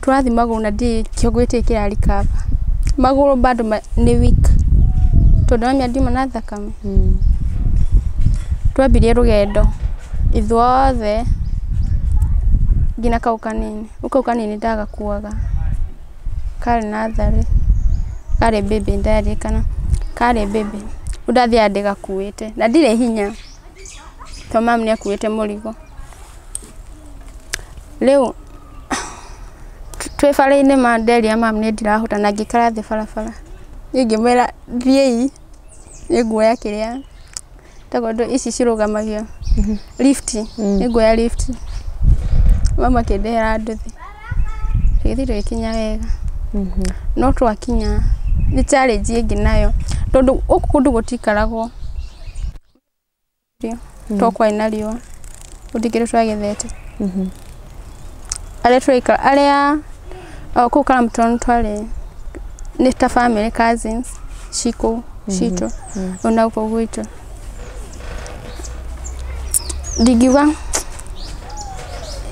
Tũrathiĩ magũrũ na ndiũĩ kĩongo gĩkĩ kĩra recover. Magũrũ bado nĩ weak tondũ ndĩramenya ndiuma na thakame. Twambirie rũgendo ithuothe nginya kau kanini. Rĩu kau kanini ndagakuaga karĩ natharĩ, karĩ baby nĩ ndĩraririkana, karĩ baby. Rĩu ndathiaga ndĩgakuĩte na ndirĩ hinya. to mam nĩ akuĩte mũrigo rĩu twĩ bara-inĩ ma nderia mam nĩ ndirahũta na ngĩikara thĩ barabara niĩ ngĩmwĩra thiĩi nĩ nguoya kĩrĩa tondũ ici cirũgamagio lift nĩ nguoya lift mam akĩndehera nduthi tũgĩthiĩ tũgĩkinya wega no twakinya nĩ challenge ĩngĩ nayo tondũ gũkũ kũndũ gũtikaragwo. mm. to kwai na riũa gũtikĩrĩ twagethete mm-hmm. arĩa twaika arĩa kũu karamtoni twarĩ nĩ ta family cousins cikũ mm-hmm. citũ mm. ona gũkũ gwitũ ndingiuga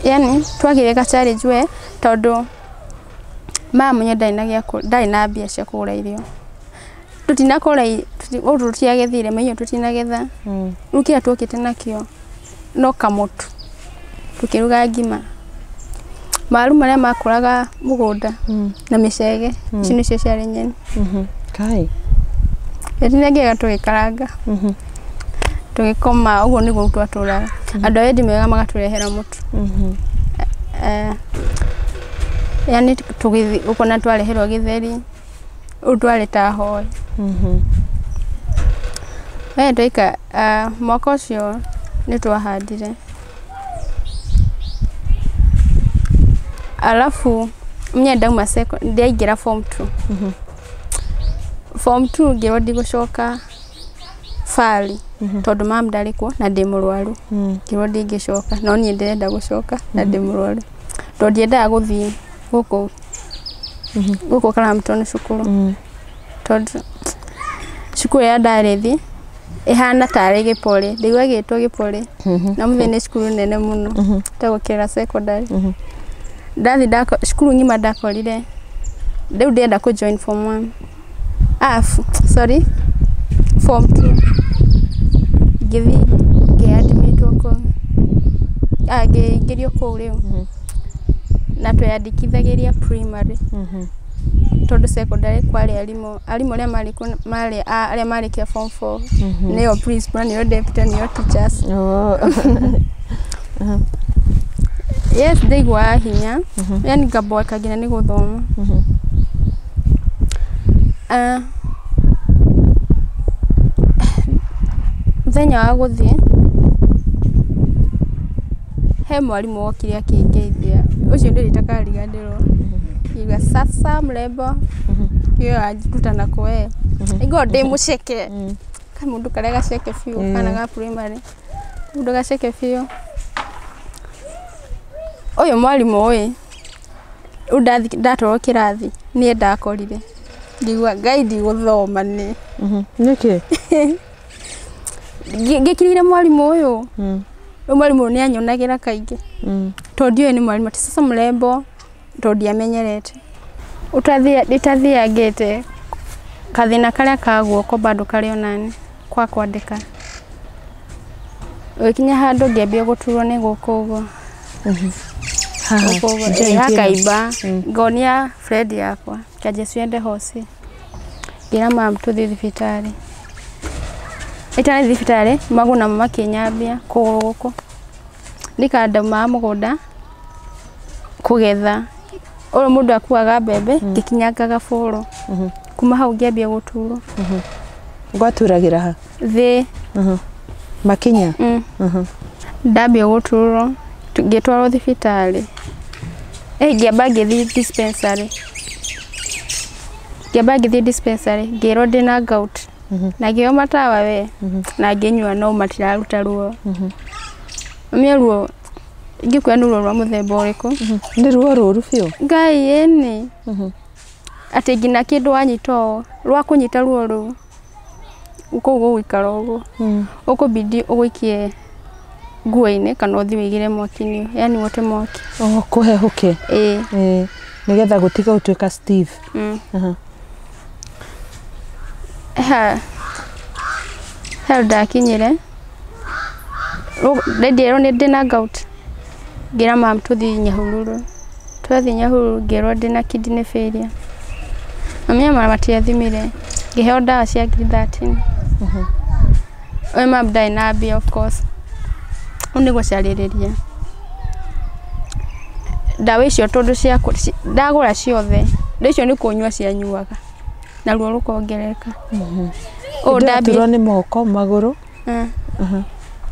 yani twagire ga challenge we tondu mama nyu ndari na gya ndari na mbia cia kugura irio tutinakora gũkũ tũtiagethire maiyo tutinagetha rĩu kĩrĩa twokĩte nakĩo no kamũtu tũkĩruga ngima maru marĩa makũraga mũgũnda na mĩcege ici nĩcio ciarĩ nyeni kai tũtinengega tũgĩkaranga tũgĩkoma ũguo nĩguo twatũraga andũ a wendi mwega magatũrehera mũtu Eh, yani tũgĩthi ũkona twareherwo gĩtheri ũndware ta hoyi. Mwaka ũcio nĩ twahandire arabu niĩ ndauma cekondarĩ, ndaingĩra form two. Form two ngĩrwo ndigũcoka barĩ tondũ mum ndarĩ kuo na ndĩ mũrwaru. Ngĩrwo ndingĩcoka no niĩ ndĩrenda gũcoka na ndĩ mũrwaru tondũ ndiendaga gũthiĩ. gũkũ gũkũ karamtwo nĩ cukuru tondũ cukuru ya ndarĩthi ĩhana tarĩ gĩpore ndaigua gĩtwo gĩpore na mũthĩ nĩ cukuru nene mũno ta gũkĩra secondary ndathi ndako- cukuru ng'ima ndakorire rĩu ndĩrenda kũ join form one ah sorry form two ngĩthiĩ ngĩ admit wo kũu ah ngĩingĩrio kũu rĩu na tweyandĩkithagĩria primary tondũ secondary kwarĩ arimũ arimũ arĩa marĩ kuo marĩ arĩa marĩkia form four nĩo principal nĩo deputy nĩo teachers yes ndaiguaga hinya yani ngaboeka nginya nĩ gũthoma Mũthenya wa gũthiĩ, he mwarimũ wokire akĩngeithia, ũcio ndirĩ ndakariganĩrwo, akiuga, Sasa mrembo, kĩo wanjĩta nakũ wee, aiguaga ndĩ mũceke, kamũndũ karĩa gaceke biũ, kana ga primary, kamũndũ gaceke biũ, ũyũ mwarimũ ĩ. Rĩu ndatwarwo kĩrathi niĩ ndakorire ngĩigua ngai ndigũthoma nĩ nĩkĩ ngĩkirĩire mwarimũ ũyũ rĩu mwarimũ ũyũ nĩ anyonagĩra kaingĩ tondũ ndiũĩ nĩ mwarimũ ti sasa mũrembo tondũ ndiamenyerete ĩtathiangĩte gathĩna karĩa ka guoko bado karĩ onaniĩ ga kwandĩka gũgĩkinya handũ ngĩambia gũturwo nĩ gũkũ ũguo. akaimba ngonia friend yakwa kanjia ciende hoci ngĩra mam tũthiĩ thibitarĩ itarĩ thibitarĩ maguna makĩnyambia kũgũrũ gũkũ nĩkandomaga mũgũnda kũgetha ũyũ mũndũ akuaga mbembe ngĩkinyangaga bũrũ kuma hau ngĩambia gũturwo gwaturagĩra ha thĩ Mhm. makinya mm. Mhm. ndambia gũturwo tu- ngĩtwarwo thibitarĩ Eh, ngĩamba ngĩthiĩ dispensary ngĩamba ngĩthiĩ dispensary ngĩrwo ndĩna gout Mhm. na ngĩo matawa we Mhm. na ngĩnyua no matiraruta ruo Mhm. mie ruo ngĩkwĩa nĩ ruo rwa mũthemba ũrĩkũ Mhm. nĩ ruo rũru biũ ngai ĩni Mhm. atĩ nginya kĩndũ wanyita ũũ rwa kũnyita ruo rũu kũu gũgũikara ũguo ũkũbidi ũgũikie nguo-inĩ kana ũthiĩ wĩigĩre mwaki-inĩ yani wote mwaki Oh, kũhehũke ĩĩ Eh, nĩgetha gũtiga gũtuĩka Steve. mm. Aha. ha hau ndakinyire Ndendirwo nĩ ndĩna gout ngĩra mum tũthiĩ Nyahururu. Twathiĩ Nyahururu ngĩrwo ndĩna kidney failure. Mami e mama matiathimire, ngĩheo ndawa cia ngiri thirteen. We mum ndarĩ na mbia of course. Rĩu nĩ gũcarĩrĩria. Ndawa icio tondũ ciakũ, ndagũra ciothe, ndawa icio nĩ kũnyua cianyuaga. na ruo rũkongerereka ũũ Ndambia- ndaturwo nĩ moko magũrũ Ah. Mhm.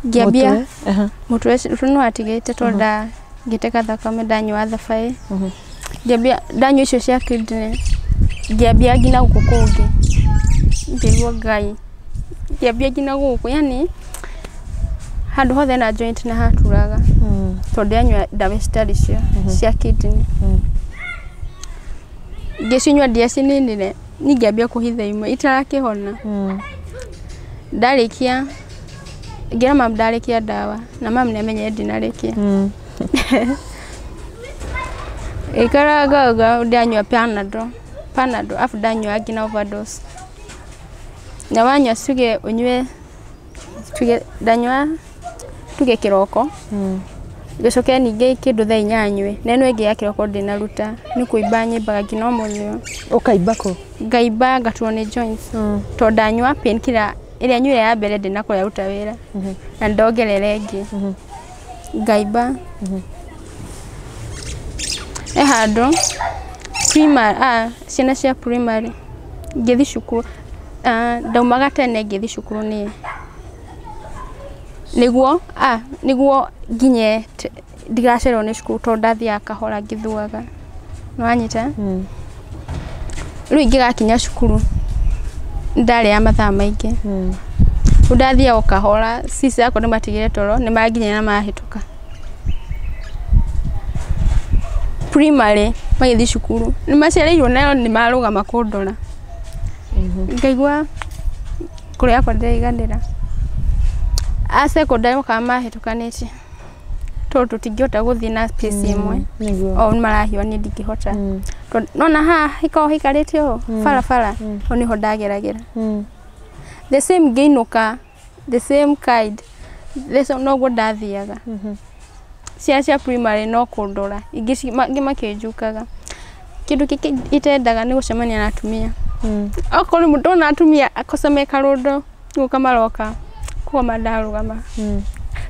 ngĩambia mũtwe. Aha. mũtwe ũcio nĩ watigĩte to nda ngĩteka thakame ndanyua thabaĩ Mhm. ngĩambia ndanyua icio cia kidney ngĩambia nginya gũkũ kũngĩ ngĩigua ngai ngĩambia nginya gũkũ yani handũ hothe na joint na haturaga Mm. tondũ ndanyua ndawa citarĩ cio cia kidney Mm. Ngĩcinyua ndĩacinĩnĩre, niĩ ngĩambia kũhitha imwe itarakĩhona. Ndarĩkia, ngĩra mamu ndarĩkia ndawa, na mamu nĩ amenyire ndinarĩkia. Ngĩikara ngauga ndanyua panadol, panadol arabu ndanyua nginya overdose. Na wanyua tuge ũnyue. tuge ndanyua tuge kĩroko, gĩcoke ningĩ kĩndũ thaa inya nyue, na ĩno ĩngĩ ya kĩroko ndĩnaruta, nĩ kũimba nyimbaga nginya ũmũthĩ ũyũ. Ũkaimba kũ? Ngaimba ngaturwo nĩ joints, to ndanyua painkiller ĩrĩa nyuire ya mbere ndĩnakorwo yaruta wĩra, na ndongerera ĩngĩ. Ngaiba. He handũ primary a ciana cia primary ngĩthiĩ cukuru a ndaumaga tene ngĩthiĩ cukuru nĩ nĩguo a nĩguo nginye ndigacererwo nĩ cukuru tondũ ndathiaga kahora ngĩthũaga. Nĩwanyita? rĩu ingĩgakinya cukuru ndarĩa mathaa maingĩ rĩu ndathiaga o kahora sis akwa nĩ matigire toro nĩ manginyĩra na mahĩtũka primary magĩthiĩ cukuru nĩ macereirwo nayo nĩ marũgama kũndora ngaigua ngoro yakwa ndĩraiganĩra a secondary mokaga mahĩtũkanĩtie tondũ tũtingĩhota gũthiĩ na space ĩmwe nĩguo o marahiwa niĩ ndingĩhota Mm. Tondũ- nona haha hikoragwo hikarĩte ũũ barabara hau nĩho ndageragĩra Mm. the same ngĩinũka the same kind the same, noguo ndathiaga Mhm. ciana cia primary no kũndora ingĩ ci- ma- ingĩ makĩnjukaga kĩndũ kĩngĩ itendaga nĩ gũcemania na atumia Mm. okorwo rĩmwe ndona atumia akoca me karũndo gũka maroka kũgoma ndarũgama Mm.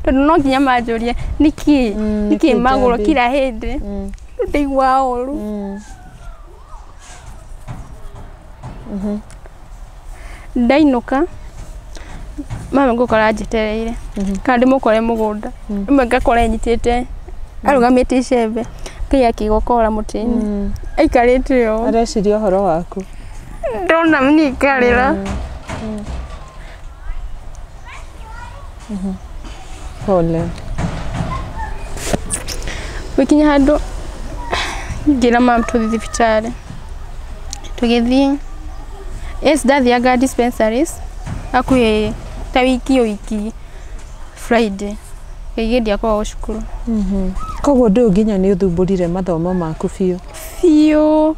tondũ no nginya manjũrie nĩkĩ Mm, nĩkĩ nĩkĩ magũrũ njambi? kira hĩndĩ Mm. Rĩu ndaigua ũru Mm. Mhm. ndainũka mama ngũkora njĩtereire Mhm. kana ndĩmũkore mũgũnda Mm. rĩmwe ngakora enyitĩte arũgamĩte icembe ngai akĩgokora mũtĩ-inĩ Mm. aikarĩte ũũ areciria ũhoro waku ndona mnikarĩra pole gũkinya handũ ngĩra mam tũthiĩ thibitarĩ tũgĩthiĩ yes ndathianga dispensaries hakuhĩ ta wiki ĩyo wiki friday kaingĩ ndiakoragwo cukuru koguo ndũyũ nginya nĩ ũthumbũrire mathomo maku biũ biũ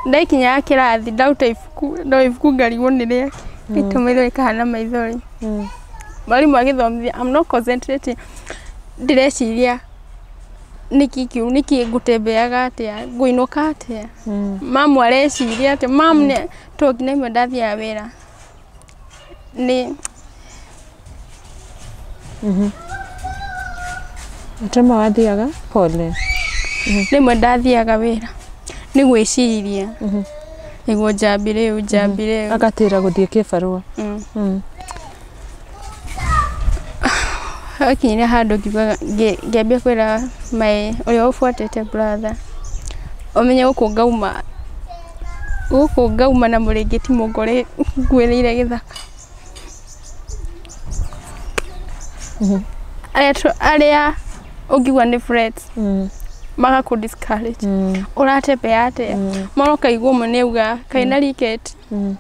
Ndaikinyaga kĩrathi ndaruta ibuku, ndoya ibuku ngarigwo nĩ rĩakĩ, ngaita maitho rĩkahana maithori. Mwarimũ agĩthomithia I'm not concentrating, ndĩreciria nĩkĩ kĩu, nĩkĩ ngũtembeaga atĩa, ngũinũka atĩa, mamu areciria atĩa, mamu nĩ, tondũ nginya rĩmwe ndathiaga wĩra. Ni Ũtema wathiaga pole. rĩmwe ndathiaga wĩra nĩ gwĩciria nĩguo njambi rĩu njambi rĩu Agatĩra gũthiĩ kĩbarũa. Mm. Mm. hakinyire handũ ngiugaga ngĩ- ngĩambia kwĩra maĩ ũrĩa ũbuatĩte brother ũmenye gũkũ ngauma Gũkũ ngauma na mũrĩngĩti mũngore ngũĩrĩire gĩthaka. Arĩa tũ- arĩa ũngiuga nĩ friends magakũ discourage ũratembea atĩa mara ũkaigua ũmwe nĩ auga kaĩ na riket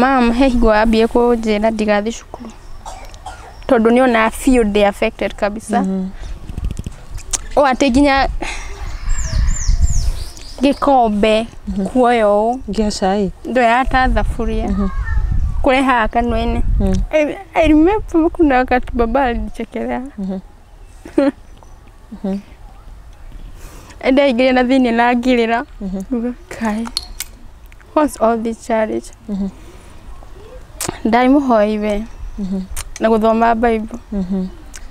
Mum he hingo ambire kũnjĩra ndigathiĩ cukuru tondũ nĩ onaga biũ ndĩ affected kabisa ũũ atĩ nginya gĩkombe kuoya ũũ Gĩa cai. ndoya ta thaburia kũrehaga kanua-inĩ I, I remember kuna wakati baba alinichekelea ndaingĩrire na thĩinĩ na ngĩrĩra Nguga, kai what's all this challenge ndai mũhoi we na gũthoma bible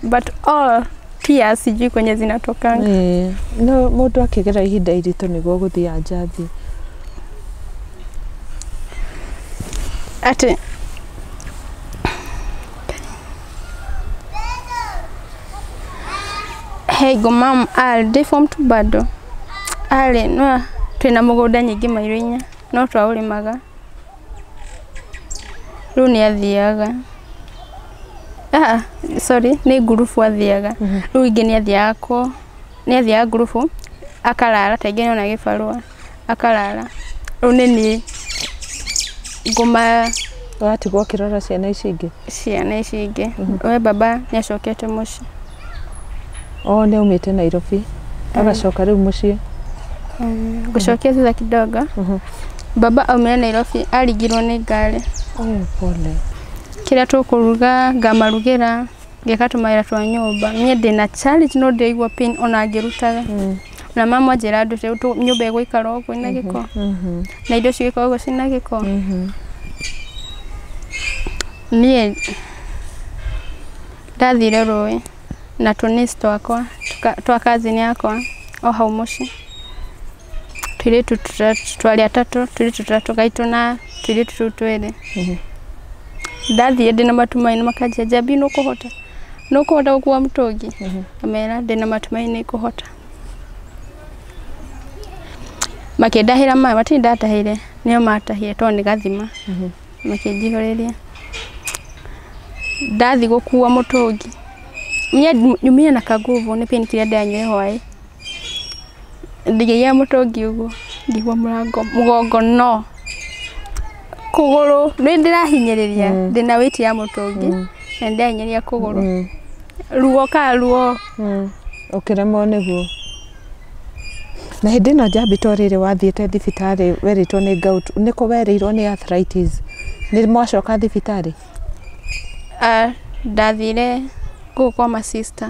but all tears sijui kwenye zinatokanga Eh, no mũndũ akĩgera ihinda iritũ nĩguo gũthiĩ anja thiĩ atĩ Hey go mom are ndĩ form two bado arĩ no twĩna mũgũnda nyingĩ mairũ-inĩ no twaũrĩmaga rĩu nĩ athiaga ah sorry nĩ ngurubu athiaga rĩu ingĩ nĩ athiaga ko nĩ athiaga ngurubu akarara ta ingĩ nĩ ona gĩbarũa. akarara. Rĩu nĩ niĩ ngũma Ũratigwo ũkĩrora ciana ici ingĩ. ciana ici ingĩ. We baba nĩ acokete mũciĩ. O nĩ aumĩte Nairobi. Agacoka rĩu mũciĩ. Ngũcokia thutha kidogo. Baba aumire Nairobi aringirwo nĩ ngari. Oh, pole. Kĩrĩa tũkũruga ngamarugĩra, ngeka tũmawĩra twa nyũmba. Niĩ ndĩna challenge no ndĩraigua pain ona ngĩrutaga. na mama njĩra andũ rĩu tũ- nyũmba ĩgũikara ũguo ĩna gĩko na indo cigĩkorwo ũguo cina gĩko niĩ ndathire rũĩ na tũnis twakwa tũka- twa kazini yakwa o hau mũciĩ tũirĩtu tũtatũ- twarĩ atatũ tũirĩtu tũtatũ gaitũ na tũirĩtu tũu twĩrĩ ndathire ndĩna matu maĩ na makanjia njambi nũkũhota nũ kũhota gũkua mũtũngi amera ndĩ na matumaini nĩ kũhota makĩndahĩra maĩ matirĩ ndatahĩire nĩo matahire tondũ nĩ gathima makĩnjihũrĩria ndathi gũkua mũtũngi nyumire na kanguvu nĩ pain killer ndĩranyuire hwaĩ ndĩgĩire mũtũngi ũguo ngĩigua mũrango mũgongo no kũgũrũ nĩ ndĩrahinyĩrĩria ndĩna wĩiti ya mũtũngi na nĩ ndĩrahinyĩrĩria kũgũrũ ruo ka ruo ũkĩremwo nĩguo na hĩndĩ ĩno njambĩtwo rĩrĩ wathiĩte thibitarĩ werĩtwo nĩ gout nĩkũ werĩirwo nĩ arthritis nĩ mwacoka thibitarĩ Ah, ndathire gũkũ kwa ma sister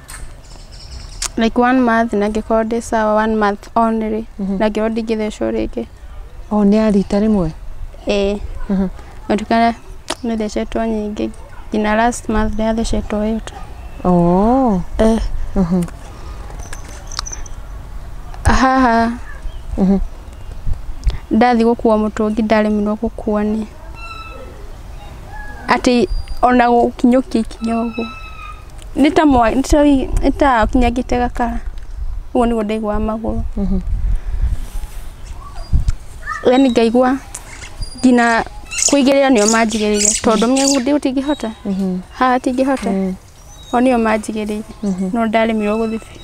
like one month na ngĩkorwo ndĩ sawa one month only na ngĩkorwo ndingĩthecwo rĩngĩ o nĩ ya rita rĩmwe ĩĩ Mhm. gũtukana nĩ thecetwo nyingĩ nginya last month ndĩrathecetwo ĩyo tu oo Eh, Mhm. haha Mhm. ndathi gũkuua mũtũngi ndaremirwo gũkuua nĩ atĩ ona gũkinyũkia ikinya ũguo nĩ ta mwa- nĩ ta wi- nĩ ta akinyangĩte gakara ũguo nĩguo ndaiguaga magũrũ yani ngaigua nginya kũigĩrĩra nĩo manjigĩrĩire tondũ mĩgũndĩ ũtingĩhota haha tingĩhota o nĩo manjigĩrĩire no ndaremirwo gũthiĩ biũ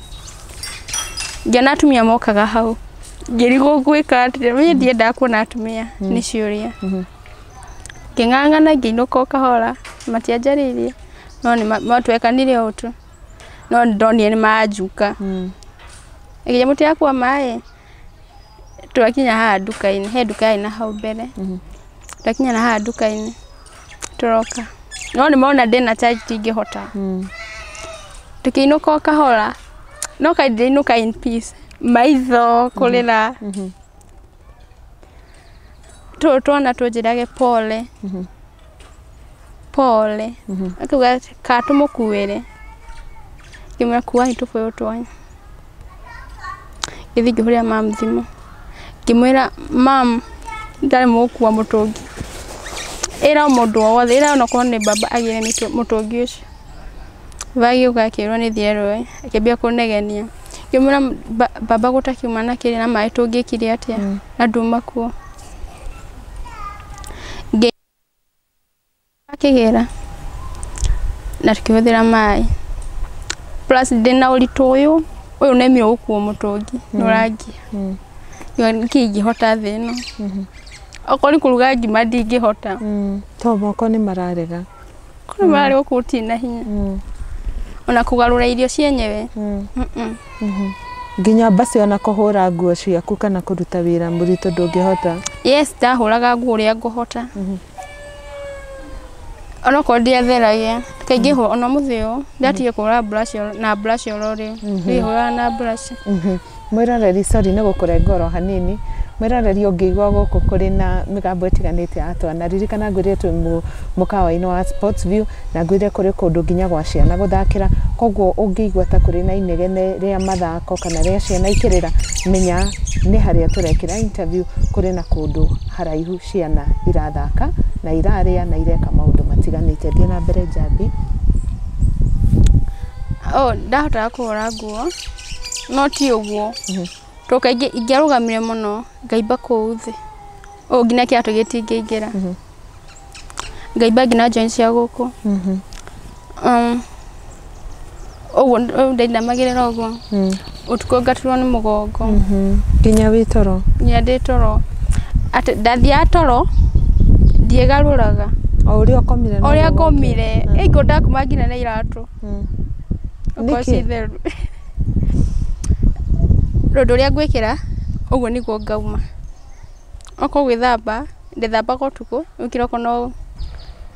ngĩona atumia mokaga hau ngĩrigwo gwĩka atĩa niĩ ndiendaga kuona atumia nĩ ciũria ngĩng'ang'ana ngĩinũka o kahora matianjarĩirie no nĩ ma- ma- twekanire ũũ tu no nĩ ndonire nĩ manjuka Mm. ĩgĩje mũtĩ yakwa maĩ twakinya haha nduka-inĩ he nduka yarĩ na hau mbere Mhm. twakinya na haha nduka-inĩ tũroka no nĩ mona ndĩ na charge tingĩhota Mm. tũkĩinũka o kahora no kainũka in peace maitho kũrĩra Mhm. tũrũ twana tũnjĩrage pole pole akauga atĩ, kaa tũmũkuĩre ngĩmwĩra kuai tũbũyũ twanyu gĩthiĩ ngĩhũrĩra mam thimũ ngĩmwĩra mam ndarĩ mũgũkua mũtũngi ĩra o mũndũ o wothe ĩra onakorwo nĩ baba agĩre mĩtũ- mũtũngi ũcio Agĩũka akĩrwo nĩ thiĩ erũĩ, akĩambia kũnegenia. Ngĩmwĩra mbamba gũtakiuma na kĩrĩa na maĩ tũngĩkire atĩa na nduma kuo. Akĩgĩra na tũkĩhũthĩra maĩ. Plus ndĩna ũritũ ũyũ, ũyũ nĩme ũgũkuo mũtũngi nĩ ũrangia. Nĩkĩĩ ingĩhota thĩ ĩno. Okorwo nĩ kũruga ngima ndingĩhota. To moko nĩ mararega. Kũrĩ mm. mararĩ gũkũ gũtirĩ na hinya mm. ona kũgarũra irio cienyewe mm. mm-hmm. nginya mbasi ona kũhũra nguo ciaku kana kũruta wĩra mũritũ ndũngĩhota yes ndahũraga nguo ũrĩa ngũhota mm-hmm. onokorwo ndiatheragia kaingĩ hũra ona mũthĩ ũyũ ndatige kũhũra mburaci na mburaci ororĩ mm-hmm. ndĩhũraga na mburaci Mwĩroreri, sorry nĩ gũkũrenga oro hanini, mwĩroreri ũngĩigua gũkũ kũrĩ na mĩgambo ĩtiganĩte ya twana, ririkana ngwĩrire twĩ mũkawa-inĩ wa Sports View, na ngwĩrire kũrĩ kũndũ nginya gwa ciana gũthakĩra, koguo ũngĩigua ta kũrĩ na inegene rĩa mathako kana rĩa ciana ikĩrĩra, menya nĩ harĩa tũrekĩra interview, kũrĩ na kũndũ haraihu ciana irathaka, na irarĩa na ireka maũndũ matiganĩte. Thiĩ na mbere njambi. Ooh ndahotaga kũhũra nguo. no ti ũguo tondũ kaingĩ ingĩarũgamire mũno ngaimba kũu thĩ ũũ nginya kĩratũ gĩtingĩingĩra ngaimba nginya join cia gũkũ Um, ũguo rĩu ndainamagĩrĩra ũguo ũtukũ ngaturwo nĩ mũgongo nginya wĩ toro nginya ndĩ toro atĩ ndathiaga toro ndiĩgarũraga o ũrĩa ũkomire no ũrĩa ũrĩa ngomire ĩngĩ ndakuma nginya na iratũ Mm. Okorwo Nĩkĩ? ci theru. Rũndũ rũrĩa ngwĩkĩra, ũguo nĩguo ngauma. Okorwo gwĩthamba, ndĩthambaga ũtukũ, rĩu kĩroko no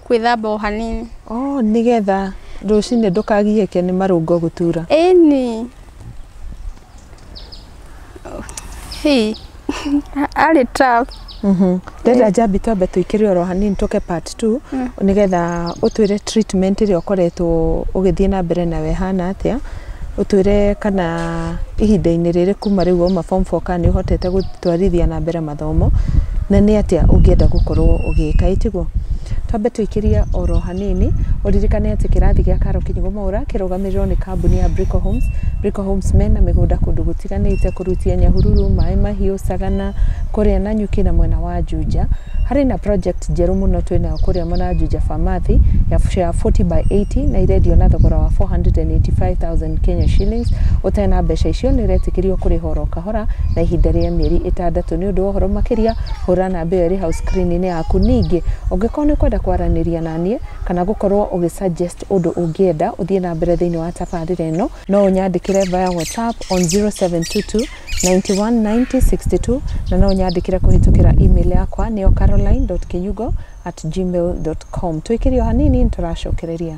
gwĩthamba o hanini. Oh, nĩgetha rũcinĩ ndũkagiĩke nĩ marũngo gũtura. Ĩni. Hii. Arĩ tough. Mhm. Ndenda njambi twambe tũikĩre oro hanini tũke part 2 mm. nĩgetha ũtwĩre treatment ĩrĩa ũkoretwo ũgĩthiĩ na mbere nayo ĩhana atĩa ũtwĩre kana ihinda-inĩ rĩrĩ kuma rĩu wauma form 4 kana nĩ ũhotete gũtwarithia na mbere mathomo gĩthomo na nĩ atĩa ũngĩenda gũkorwo ũgĩka ĩ tiguo twambe tũikĩrie oro hanini ũririkane atĩ kĩrathi gĩa karo kĩnyugo maũra kĩrũgamĩrĩrwo nĩ kambuni ya Brico Homes Brico Homes mena mĩgũnda kũndũ gũtiganĩte kũrutia nyahururu maĩ mahiũ sagana kũrĩa na nyuki na mwena wa Juja harĩ na project njerũ mũno twĩnayo kũrĩa mwena wa Juja Famathi ya share 40 by 80 na irendio na thogora wa 485,000 Kenya shillings ũtena mbeca icio nĩ ũretĩkĩrio kũrĩha oro kahora Hora na ihinda rĩa mĩeri ĩtandatũ. Nĩ ũndũ wa ũhoro makĩria, hũra namba ĩyo ĩrĩ hau screen-inĩ yaku. Ningĩ, ũngĩkorwo nĩ ũkwenda kwaranĩria na niĩ, kana gũkorwo ũgĩ suggest ũndũ ũngĩenda ũthiĩ na mbere thĩinĩ wa tabarĩra ĩno, no ũnyandĩkĩre via WhatsApp on 0722 91 90 62, na no ũnyandĩkĩre kũhĩtũkĩra email yakwa nĩyo caroline.kinyungo at gmail.com. Tũikĩrie o hanini nĩ tũracokereria.